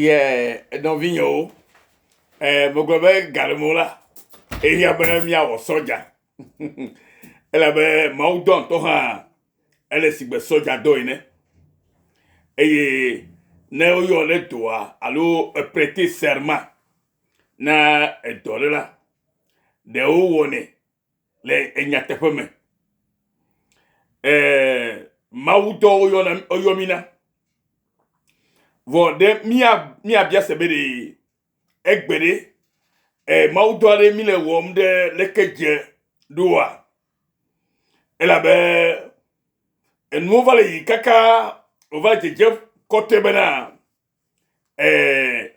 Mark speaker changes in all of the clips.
Speaker 1: Ye nɔvinyewo, e, megblɔ be galemo la, eya be míawɔ sɔdza. Elabe Mawu dɔ ŋutɔ hã, ele si gbe sɔdza dɔ ene. Eye ne woyɔ ɖe dɔa alo eprete serma na edɔ ɖe la, ɖewo wɔnɛ le enyateƒe me eh, mawu dɔ woyɔna woyɔ mi na vɔ ɖe mía míabia se be ɖe egbe ɖe eh, mawu dɔ aɖe mi le wɔm ɖe leke dze ɖoa elabe enuwo va le yi kaka wòva dzedze kɔte bena Ɛɛ,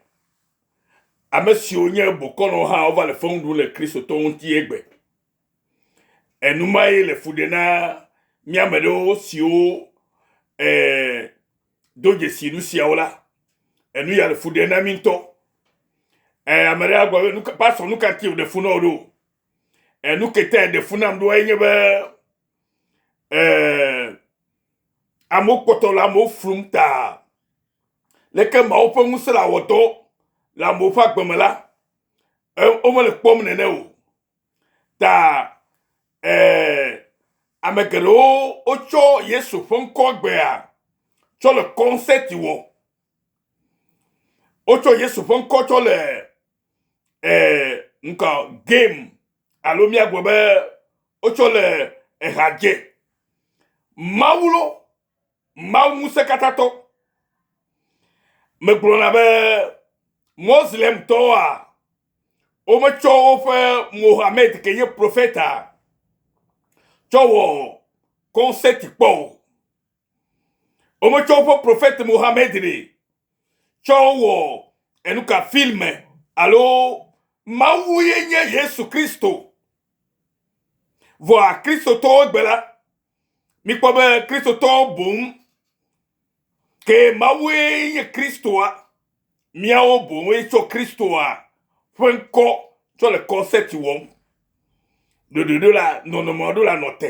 Speaker 1: ame siwo nye bokɔnɔwo hã wova le feŋ ɖum le Kristotɔwo ŋuti egbe. Enumae le fu ɖe na mía ame ɖewo siwo ɛɛ, do dzesi nu siawo la. Enu ya le fu ɖe na mí ŋutɔ. Ɛɛ, ame ɖe agblɔ be, nuka- Pastor, nu ka ŋuti wòɖe fu na wò ɖo? Ɛɛ, nu ke tae ɖe fu nam ɖoa enye be ɛɛ, amewo kpɔtɔ le amewo flum ta. Leke Mawu ƒe ŋusẽ le awɔ dɔ le amewo ƒe agbe me la, womele kpɔm nene o. Ta eh, ame geɖewo wotsɔ Yesu ƒe ŋkɔ gbea tsɔ le kɔnsɛti wɔ. Wotsɔ Yesu ƒe ŋkɔ tsɔ le eh, ŋkɔ game alo míagblɔ be wotsɔ le ehadze. Mawu lo Mawu Ŋusẽkatãtɔ. Megblɔna be Moslemtɔwoa, wometsɔ woƒe Mohammed ke nye profeta tsɔ wɔ kɔnsɛti kpɔ o. Wometsɔ woƒe profet Mohammed ɖe tsɔ wɔ enuka filme alo Mawu ye nye Yesu Kristo. Vɔa Kristotɔwo gbe la, Mikpɔ be Kristotɔwo boŋ ke Mawue nye Kristoa, miawo boŋue tsɔ Kristoa ƒe ŋkɔ tsɔ le kɔnsɛti wɔm. Ɖoɖoɖo la nɔnɔme aɖewo la nɔ te.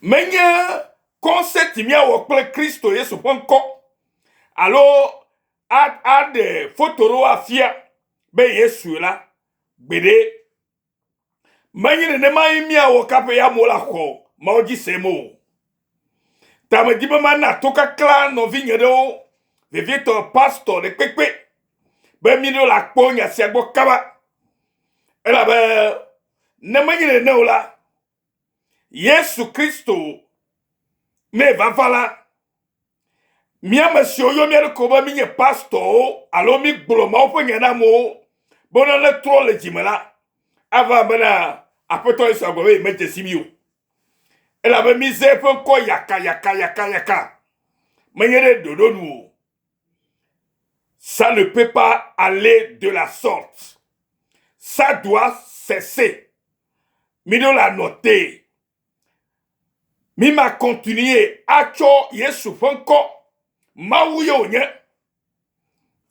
Speaker 1: Menye kɔnsɛti miawɔ kple Kristo Yesu ƒe ŋkɔ alo aɖe foto ɖewo afia be Yesu la, gbeɖe. Menye nenemae míawɔ kaƒe ya mo la xɔ Mawu dzi sem o. Ta medi be mana to kaklã nɔvinye ɖewo, vevietɔ pastor ɖekpekpe, be míɖo la kpɔ nya sia gbɔ kaba. Elabe ne menye nene o la, Yesu Kristo mee vava la, míame siwo yɔ mía ɖokui be mínye pastorwo alo mígblɔ Mawu ƒe nya na amewo be wona ne trɔ le dzime la, ava bena Aƒetɔ Yesu agblɔ be yemedze si mí o. Elabe míze eƒe ŋkɔ yakayakayakayaka, menye ɖe ɖoɖo nu o. Ça ne peut pas aller de la sorte. Ça doit cesser. Mi ɖo la nɔ te. Mi ma continuer atsɔ Yesu ƒe ŋkɔ. Mawu ye wònye.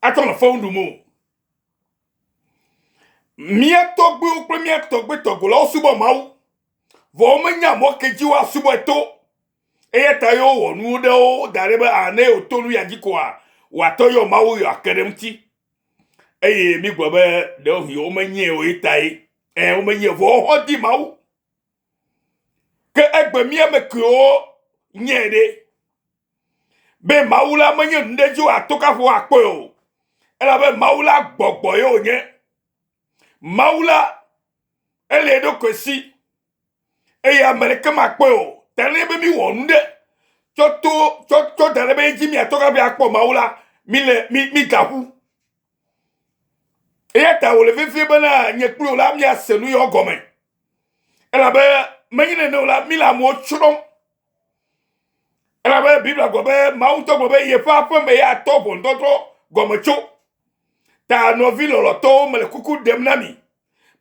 Speaker 1: Atsɔ nɔ fewu ɖum o. Mía tɔgbuiwo kple mía tɔgbui tɔgolawo subɔ Mawu. Vɔ womenya mɔ ke dzi woasubɔe to. Eya ta ye wowɔ nuwo ɖe wo da ɖi be a ne wòto nu ya dzi koa, wòatɔ yɔ Mawu yewoake ɖe eŋuti. Eye mígblɔ be ɖewohĩ womenyie o ye tae. Ẽ, womenyie o, vɔ woaxɔ di Mawu. Ke egbe mía ame kewo nyie ɖe? Be Mawu la menye nu ɖe dzi wòato kaƒo akpɔe o, elabe Mawu la gbɔgbɔ ye wònye. Mawu la, ele eɖokui si eye ame ɖeke makpɔe o. Ta ne be míwɔ nu ɖe tsɔ to tsɔ tsɔ da ɖe be edzi míatɔ hafi akpɔ Mawu la, míle mí mígaƒu. Eya ta wòle vevie bena nye kple wò la míase nu yewo gɔme. Elabe menye nene o la, míle amewo tsrɔ̃m. Elabe Biblia gblɔ be Mawu ŋutɔ gblɔ be yeƒe aƒe me ya atɔ ʋɔnudɔdrɔ̃ gɔme tso. Ta nɔvi lɔlɔ̃tɔwo mele kuku ɖem na mi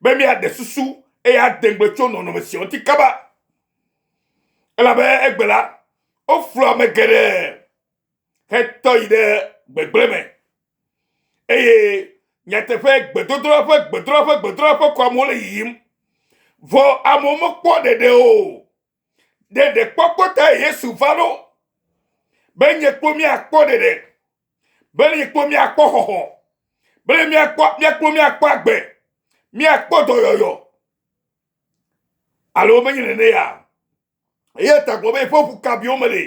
Speaker 1: be míaɖe susu eye ade ŋugbe tso nɔnɔme sia ŋuti kaba elabe egbe la, woflɔ ame geɖe hetɔ yi ɖe gbegblẽ me eye nyateƒe gbedodoɖa ƒe gbedoɖa ƒe gbedoɖa ƒe kɔ amewo le yiyim vɔ amewo mekpɔ ɖeɖe o. ɖe ɖekpɔkpɔ tae Yesu va ɖo, be nye kpɔ míakpɔ ɖeɖe, be nye kpɔ míakpɔ xɔxɔ, be míakpɔ míakpɔ míakpɔ agbe, míakpɔ dɔyɔyɔ. Alo menye nene ya. Ye ta gblɔ be yeƒe ʋu kabiwo me le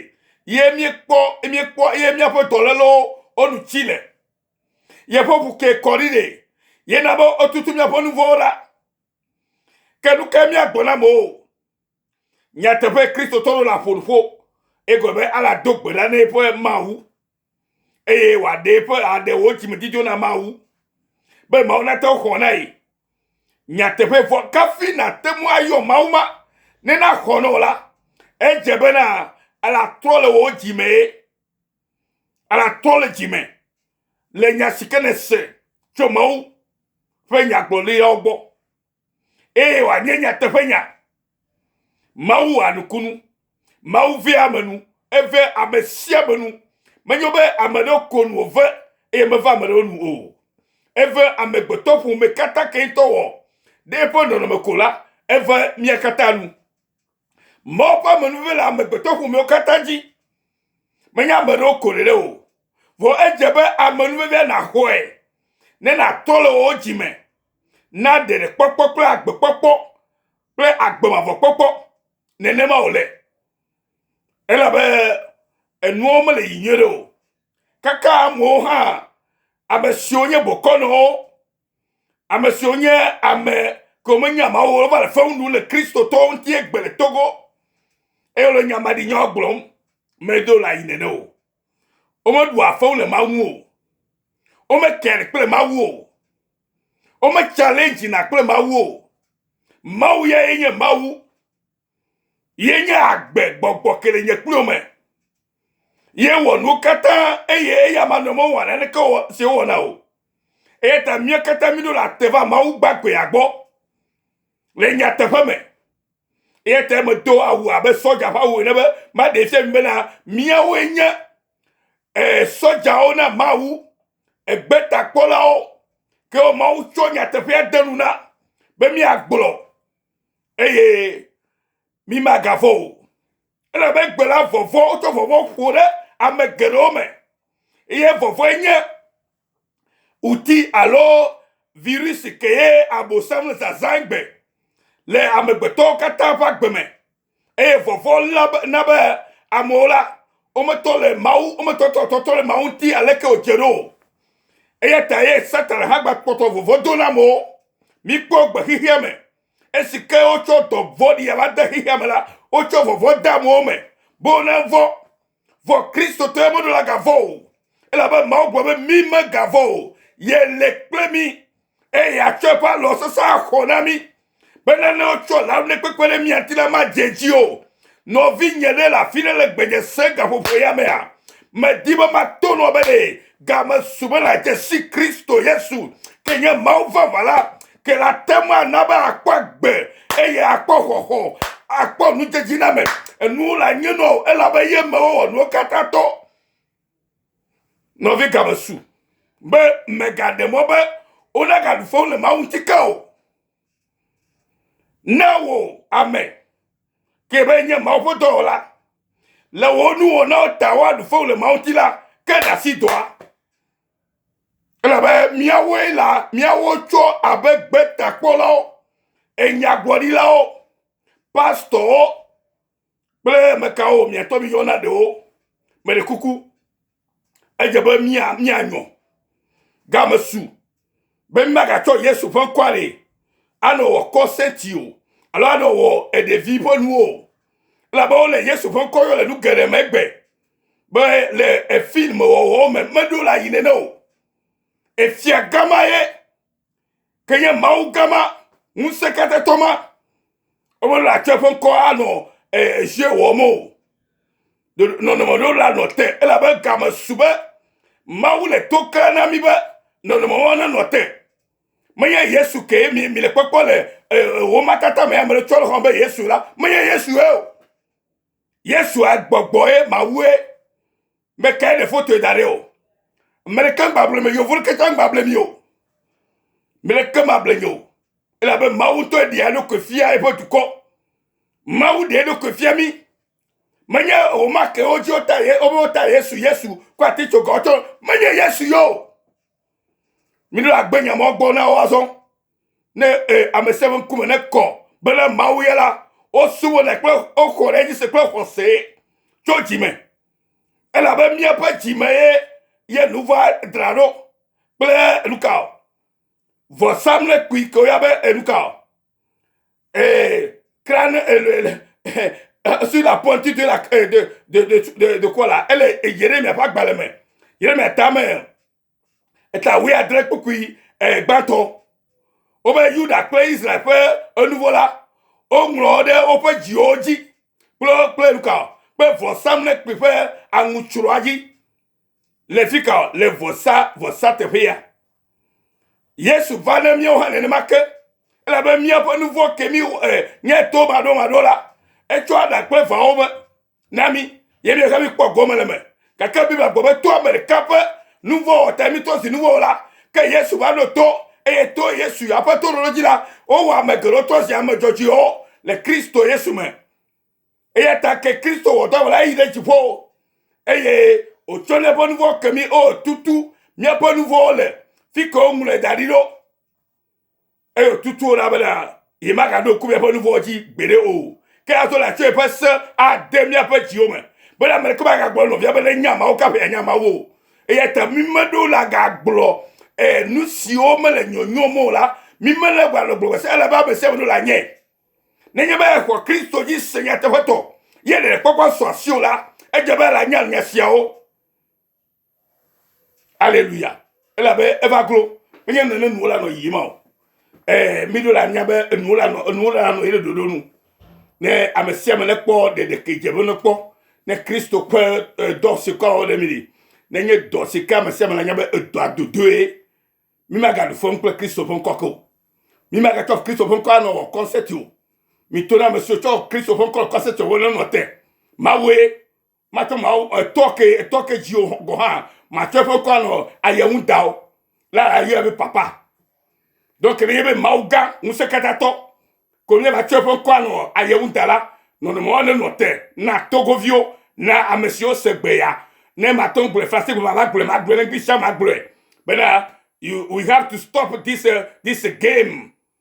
Speaker 1: ye míekpɔ míekpɔ ye míaƒe dɔlélewo wonu tsi le. Yeƒe ʋu ke kɔ ɖi ɖe yena be etutu míaƒe nuvɔwo la. Ke nu ka míagblɔ na amewo? Nyateƒe Kristotɔ ɖo le aƒonuƒo, egɔme be ele ado gbe ɖa na eƒe Mawu, eye wòaɖe eƒe aɖe wò dzimedzidzo na Mawu, be Mawu nate ŋu xɔ na ye. Nyateƒe vɔ kafi nate ŋu ayɔ Mawu ma ne naxɔ na wò la, edze be na ele atrɔ le wò dzi mee, ele atrɔ le dzi me le nya si ke nèse tso Mawu ƒe nyagblɔɖilawo gbɔ. eye wòanye nyateƒenya. Mawu wɔa nukunu. Mawu vea ame nu. Eve ame sia ame nu. Menyo be ame ɖewo ko nu wòve eye meva ame ɖewo nu o. Eve amegbetɔ ƒome katã ke ŋutɔ wɔ ɖe eƒe nɔnɔme ko la, eve mia katã nu. Mawu ƒe amenuve le amegbetɔ ƒomewo katã dzi. Menye ame ɖewo ko ɖeɖe o. Vɔ edze be amenuvevea naxɔe ne nàtɔ le wò dzi me na ɖeɖekpɔkpɔ kple agbekpɔkpɔ kple agbemavɔkpɔkpɔ. Nenema wòle. Elabe enuwo mele yi nyuie ɖe o. Kaka amewo hã, ame siwo nye bokɔnɔwo, ame siwo nye ame kewo menya Mawu o wova le fewu ɖum le Kristotɔwo ŋuti egbe le Togo eye wole nyamaɖinyawo gblɔm. Medo la yi nene o. Womeɖua fewu le Mawu ŋu o. Wometɛnɛ kple Mawu o. Wometsalɛndzina kple Mawu o. Mawu ya ye nye Mawu. Ye nye agbe gbɔgbɔ ke le nye kplo me. Ye wɔ nuwo katã eye eya ma nɔ mewɔ naneke si wowɔna o. Eya ta mía katã míɖo le ate va Mawu gbagbeea gbɔ. Le nyateƒe me, eya ta medo awu abe sɔdza ƒe awu ene be maɖe fia mi bena míawoe nye eh, sɔdzawo na Mawu, egbetakpɔlawo, ke wo Mawu tsɔ nyateƒea de nu na be míagblɔ eye mímagavɔ̃ o. Elabe egbe la vɔvɔ̃, wotsɔ vɔvɔ̃ ƒo ɖe ame geɖewo me eye vɔvɔ̃e nye ŋuti alo virisi kee Abosam zazãe gbe le amegbetɔwo katã ƒe agbe me, eye vɔvɔ̃ la na be amewo la, wometɔ le Mawu, wometɔ tɔ tɔtɔ le Mawu ŋuti aleke wòdze ɖo o. Eya ta ye Satan hã gba kpɔtɔ vɔvɔ̃ do na amewo. Mikpɔ gbe xexea me. Esi ke wotsɔ dɔ vɔ̃ɖia la de xexea me la, wotsɔ vɔvɔ̃ de amewo me be wonavɔ̃ Vɔ Kristo tɔe meɖo la gavɔ o, elabe Mawu gblɔ be mí megavɔ o, yele kple mí, eye yeatsɔ eƒe alɔ sesẽ axɔ na mí. Be nane wotsɔ le alɔ ne kpekpe ɖe mía ŋuti la madze dzi o. Nɔvinye ɖe le afi ɖe le gbenye se gaƒoƒo ya mea, medi be mato nua be ɖe game su be nàdze si Kristo Yesu ke nye Mawu vavã la, ke la ate ŋu ana be àkpɔ agbe eye àkpɔ xɔxɔ, àkpɔ nudzedziname. Enuwo le anyi nɔ wò elabe ye ame wɔ nuwo katã tɔ. Nɔvi game su be mègaɖe mɔ be womegaɖu fewu le Mawu ŋuti ke o. Ne wò ame ke be nye Mawu ƒe dɔwɔla le wò nuwɔnawo ta woaɖu fewu le Mawu ŋuti la, ke ɖe asi dɔa. Ele be míawoe la, míawo tsɔ abe gbetakpɔlawo, enyagblɔɖilawo, pastɔwo kple mekawo miatɔ mi yɔna ɖewo. Mele kuku. Edze be mía míanyɔ. Game su be mímagatsɔ Yesu ƒe ŋkɔa le anɔ wɔ kɔ senti o alo anɔ wɔ eɖevi ƒe nuwo o. Elabe wole Yesu ƒe ŋkɔ yɔ le nu geɖe megbe be le efilm wɔwɔ me meɖo la yi nene o efia gama ye ke nye mawu gama ŋusẽkatãtɔ ma ebe la tsɔ eƒe ŋkɔ anɔ ezie wɔm o nɔnɔme ɖo la nɔ te elabe game su be mawu le to kle na mi be nɔnɔme wɔn nenɔ te menye yesu ke mi mi le kpɔkpɔ le wɔmatata me ame ɖe tsɔ le xɔm be yesu la menye yesu ye o Yesua gbɔgbɔe mawue meke le fotoe da ɖe o. Meleke gbable me yevo leke tsã gbable mi o. Meleke mable nyo. Elabe Mawu ŋutɔ ɖea eɖokui fia eƒe dukɔ. Mawu ɖe eɖokui fia mi. Menye o make wodzi wota ye wobe wota Yesu Yesu kɔ ati tso gɔtsɔ. Menye Yesu yo. Miɖo agbe nyamɔ gbɔ na wo azɔ. ne e, ame sia ame ŋkume ne kɔ bena mawu ya la wosubɔnɛ kple woxɔ ɖe edzi se kple xɔse tso dzi me elabe míaƒe dzi me ye ye nu va dra ɖo kple enuka o vɔsamlekpui ke woya be enuka o ee kran ele sur la pointe de la de de de de quoi la ele yeremia ƒe agbalẽ me yeremia tame eta wuiadre kpukpui gbãtɔ. Wobe Yuda kple Israel ƒe enuvɔ la, woŋlɔ ɖe woƒe dziwo dzi kple kple nuka kple vɔsamlekpui ƒe aŋutsrɔa dzi le fika le vɔsa vɔsa teƒea. Yesu va ne míawo hã nenema ke elabe míaƒe nuvɔ ke mi eh, nye to maɖomaɖo la, etsɔ aɖa kple vawo me. na mí ye míehe míkpɔ gome le me. Gake Biblia gblɔ be to ame ɖeka ƒe nu vɔ̃ wɔ ta mítɔ zi nu vɔ̃ wɔla. Ke Yesu va ɖo to eye to Yesu ya ƒe toɖoɖo dzi la, wowɔ ame geɖewo tɔ zi ame dzɔdzɔewo le Kristo Yesu me. Eya ta ke Kristo wɔ dɔ wɔla yi ɖe dziƒo eye wòtsɔ ne ƒe nu vɔ̃ ke mí eye wòtutu míaƒe nu vɔ̃wo le fi ke woŋlɔe da ɖi ɖo. eye tutuwo la bena yemagaɖo ku míaƒe nuvɔwo dzi gbeɖe o ke ato le atso eƒe se ade míaƒe dziwo me bena ame ɖeke magagblɔ nɔvia bena nya mawo kaƒe yanya mawo o eya ta mi meɖewo la gagblɔ eh, nu siwo mele nyɔnyɔm o la mi mele gbalɔ gblɔ se ale be ame sia ame ɖo la nye nenye be exɔ kristo dzi se nyateƒetɔ ye ɖeɖekpɔkpɔ sɔ asi o la edze be la nya nya siawo Aleluya. Elabe eva glo. Menye nene nuwo la nɔ yiyim o. Eh, mi ɖo la nya be enuwo la nɔ, enuwo la nɔ yele ɖoɖo nu. Ne ame sia ame ne kpɔ ɖeɖeke dze be ne kpɔ, ne Kristo ƒe eh, dɔ si kɔ wɔ ɖe mi li, nenye dɔ si ke ame sia ame la nya be edɔa dodoe, mi magaɖu fɔm kple Kristo ƒe ŋkɔ ke o. Mi magatsɔ Kristo ƒe ŋkɔ anɔ wɔ kɔnsɛti o. Mi to na ame siwo tsɔ Kristo ƒe ŋkɔ le kɔnsɛti wɔ nenɔ te. Mawue matsɔ mawo etɔ ke etɔ ke dzi o gɔ hã matsɔ eƒe ŋkɔ anɔ ayɛ ŋu da o la ayɛ be papa donc ne yebe mawu gã ŋusẽ katã tɔ ko ne matsɔ eƒe ŋkɔ anɔ ayɛ ŋu da la nɔnɔme wa ne nɔ te na togoviwo na ame siwo se gbe ya ne matɔ gblɔe fase gbe ma gblɔe ma gblɔe ne gbisa ma gblɔe bena you we have to stop this uh, this game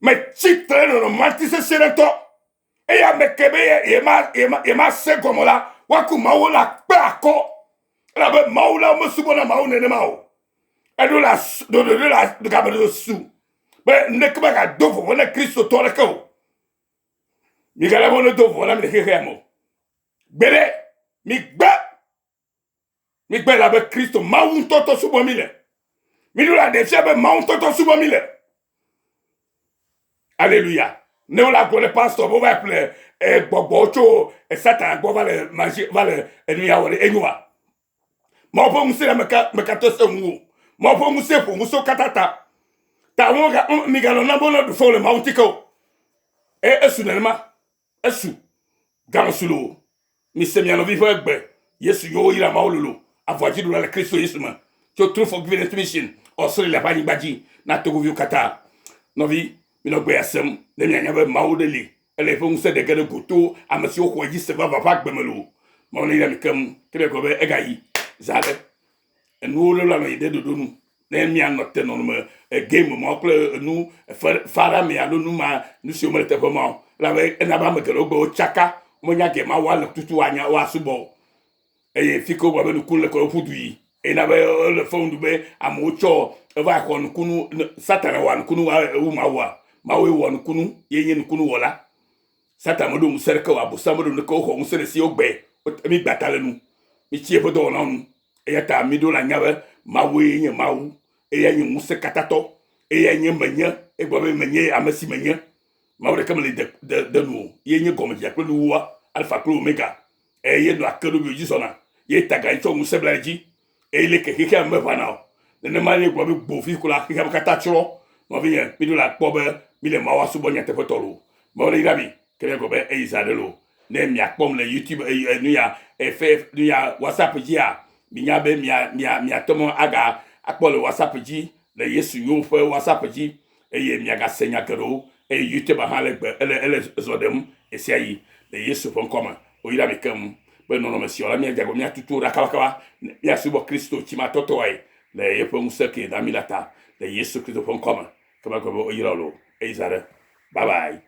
Speaker 1: metsi tre nɔnɔme ŋutisesẽɖetɔ eye ame ke be yemasẽ gɔme la woaku mawu la kpe akɔ elabe mawu la womesubɔna mawu nenema o eɖo la ɖoɖo ɖo la game ɖoɖo su be ŋɖeke magado vɔvɔ̃ ne kristotɔ ɖeke o migana be wonedo vɔvɔ̃ nam le xexea me o gbeɖe migbe Migbe la be Kristo Mawu ŋutɔtɔ subɔ mi le. Miɖo la ɖe fia be Mawu ŋutɔtɔ subɔ mi le. Aleluya. Ne wole agblɔ ne pastor be wova ƒle eh, gbɔgbɔ tso eh, Satan gbɔ va le mazi va le enuya wɔ ɖe enyo wa. Mawu ƒe ŋusẽ la meka meka to se ŋu o. Mawu ƒe ŋusẽ ƒo ŋusẽ wo katã ta. Ta wo migalɔ̃ na be wole ɖu fɔ le Mawu ŋuti ke o. Eye esu nenema. Esu. Gãme su loo. Mise mia nɔvi ƒe gbe. Yesu yɔ wo yra mawo lolo. Avɔa dzi ɖula le Kristo Yesu me. Tso True Forgiveness Mission, Australia ƒe anyigba dzi na togoviwo katã. Nɔvi, minɔ gbeya sem ne mianya be Mawu ɖe li. Ele eƒe ŋusẽ ɖe ge ɖe go to ame siwo xɔe dzi se vavã ƒe agbe me loo. Mawu neyra mi keŋ. Ke miagblɔ be, Egayi. Zã aɖe. enuwo lolo anɔ yi ɖe ɖoɖo nu. Ne míanɔ te nɔnɔme game mawo kple enu fe fara me alo nu ma nu siwo mele teƒe ma o elabe ena be ame geɖewo gbe wotsaka womenya gee ma woale tutu woanya woasubɔ o eye fi ke wogblɔ be nuku le kɔ woƒu du yi eye na be ele fewom be amewo tsɔ eva xɔ nukunu ne satana wɔa nukunu wɔa ewu mawua mawue wɔ nukunu ye nye nukunu wɔla. Satan meɖo ŋusẽ ɖeke o, Abosam meɖo nu ɖeke o, woxɔ ŋusẽ ɖe si wogbe, wote mi gba ta le nu, mi tsi eƒe dɔwɔnawo nu, eya ta mi ɖo la nya be Mawue nye Mawu, eyae nye ŋusẽ katã tɔ, eyae nye menye, egblɔ be menye ame si menye, Mawu ɖeke meli de, de, de nu o, ye nye gɔmedzedze kple nuwuwua, Alfa kple Omega, eye ye nɔa kerubiwo dzi zɔna, ye tagaɣi tsɔ ŋusẽ bla edzi, eye leke xexea meʋãna o. Nenema ye gblɔ be gbo vi ko la xexea me katã tsrɔ̃. Nɔvinye, miɖo la kpɔ be mile Mawu asubɔ nyateƒetɔ loo. Mawu neyra mi, ke miagblɔ be eyi zã ɖe loo. Ne miakpɔm le YouTube ey ey nuya ey fe nuya WhatsApp dzia, minya be mia mia miate mɔ aga akpɔ le WhatsApp dzi le Yesu Nyowo ƒe WhatsApp dzi. Eye miagase nya geɖewo. Eye Yuteba hã le gbe, ele, ele zɔ ɖem ɣesiaɣi le Yesu ƒe ŋkɔ me. Woyra mi keŋ be nɔnɔme si ɔ la, míadze agbagba míatutu wo ɖa kabakaba, ne míasubɔ Kristo tsimatɔtɔae le yeƒe ŋusẽ kee na mí la ta, le Yesu Kristo ƒe ŋkɔ me. Ke magblɔ be woyra wò le o. Eyi zã ɖe. Bye bye.